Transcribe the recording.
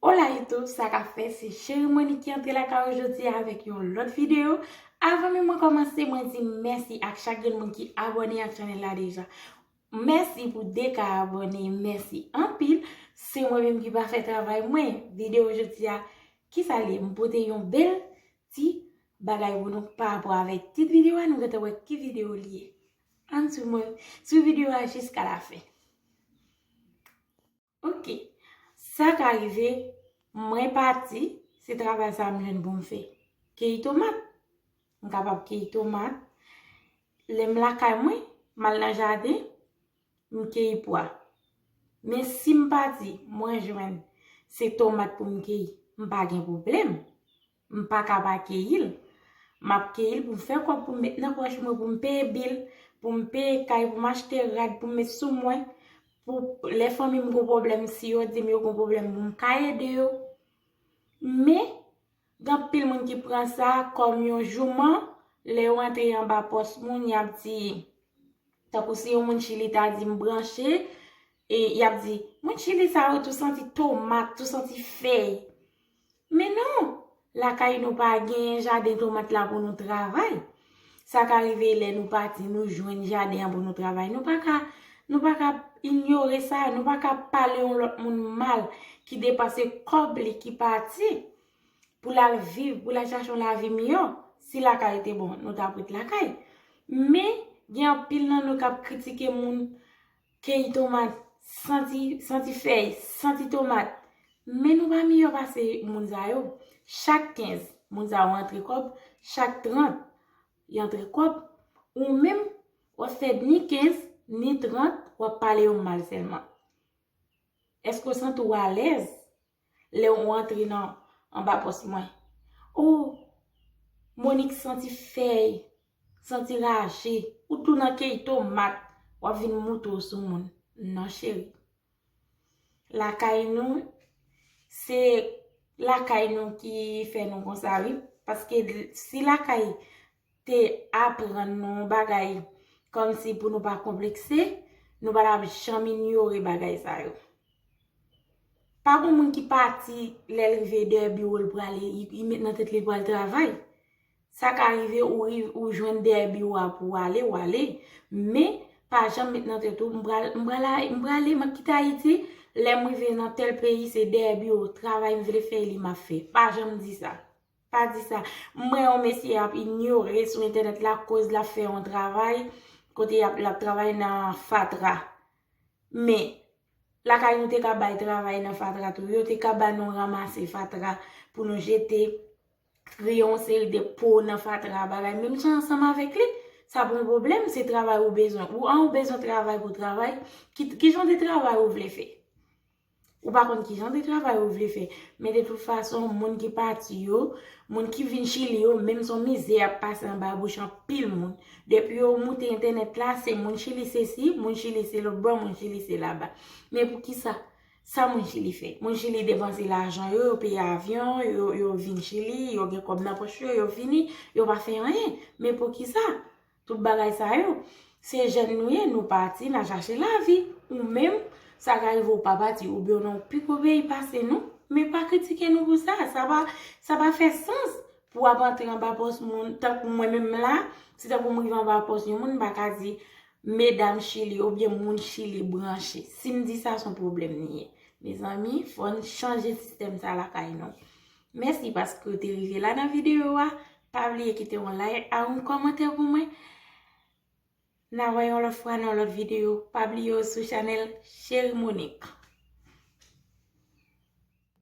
Hola YouTube, sa ka fè se Cheri Monique ki antre la ka ou jodi avèk yon lòt video. Avan men mwen kòmanse, mwen di mèsi ak chak gen moun ki abone ak chanel la deja. Mèsi pou 2 ka abone, mèsi anpil. Se mwen menm ki pa fè travay mwen. Video jodi a, ki sa li? Mwen pote yon bel ti bagay pou nou pa apwa avèk tit video a, nou gata wè ki video li ye. An sou mwen, sou video a jiska la fè. Ok. Sa ka rive, mwen pati, se travay sa m jwenn pou m fè. Keyi tomat. M kapab keyi tomat. Lè m lakay mwen, m al nan jaden, m keyi pwa. Men si m pati, mwen jwenn se tomat pou m keyi, m pa gen pwoblèm. M pa ka pa keyi l. M ap keyi l pou m fè kòb pou m met nan pòch mwen, pou m peye bil, pou m peye kay, pou m achte rad pou m met sou mwen, pou lè fanmi m gen yon pwoblèm, si yo di m yo gen yon pwoblèm pou m ka ede yo. Men, gen anpil moun ki pran sa kòm yon jouman, lè yo antre anba pòs moun, y ap di, tankou si yon moun Chili ta di m branche, e y ap di, moun Chili sa yo tou santi tomat, tou santi fèy. Men non! Lakay nou pa genyen jaden tomat la pou nou travay. Sa ka rive lè nou pati nou jwenn jaden an pou nou travay. Nou pa ka, nou pa ka inyore sa, nou pa ka pale yon lòt moun mal ki depanse kòb li ki pati pou l al viv, pou l al chache yon lavi miyò. Si lakay ou te bon, nou t ap ret lakay. Men, gen anpil nan nou k ap kritike moun. Keyi tomat, santi, santi fèy, santi tomat. Men nou pa miyò pase moun sa yo. Chak 15, moun sa yo antre kòb, chak 30, y antre kòb. Ou menm, w ap fè ni 15, ni 30, w ap pale yo mal sèlman. Èske w santi w alèz? lè ou antre nan anba pòs mwen. O! Monik santi fèy, santi raje, ou tou nan key tomat, w ap vin moute w sou moun. Non cheri. Lakay nou, se lakay nou ki fè nou konsa wi. Paske si lakay te aprann nou yon bagay kòmsi pou nou pa konplekse, nou pa t ap janm inyore bagay sa yo. Pa gen yon moun ki pati lè l rive dèyè biwo l prale, li met nan tèt li l pral travay. Sa ka rive ou jwenn dèyè biwo a pou w ale, w ale. Men, pa janm met nan tèt ou, m prale, m ap kite Ayiti, lè m rive nan tèl peyi se dèyè biwo travay m vle fè li m ap fè. Pa janm di sa. Pa di sa. M wè yon mesye ap inyore sou entènèt la koz lap fè yon travay kote yap lap travay nan fatra. Men, lakay nou te ka bay travay nan fatra tou. Yo te ka ba nou ranmase fatra pou nou jete, triye yon seri de po nan fatra bagay. Menm jan ansanm avèk li, sa pa yon pwoblèm, se travay ou bezwen. Ou an ou bezwen travay pou travay, ki jan de travay ou vle fè? Ou pa konn ki jan de travay ou vle fè. Men de tout fason, moun ki pati yo, moun ki vin Chili yo, menm son mizè y ap pase anba bouch anpil moun. Depi yo moute entènèt la, se moun Chili se si, moun Chili se lotbò, moun Chili se laba. Men pou ki sa? Sa moun Chili fè? Moun Chili depanse lajan yo, yo peye avyon, yo vin Chili, yo gen kòb nan pòch yo, yo vini, yo pa fè anyen. Men pou ki sa? Tout bagay sa yo. Se jèn nou ye, nou pati, n a chache lavi. Ou menm, sa ka rive ou pa pati, oubyen ou nan yon pi gwo peyi pase nou, men pa kritike nou pou sa. Sa pa, sa pa fè sans pou w ap antre anba pòs moun. Tankou mwen menm la, si tankou m rive anba pòs yon moun, m pa ka di, medam Chili oubyen moun Chili branche. Si m di sa, s on pwoblèm li ye. Mezanmi, fò n chanje sistèm sa lakay nou. Mèsi paske ou te rive la nan videyo a, pa bliye kite yon like a yon kòmantè pou mwen, na wè yon lòt fwa nan yon lòt videyo, pa bliye ou sou chanèl Cherie Monique.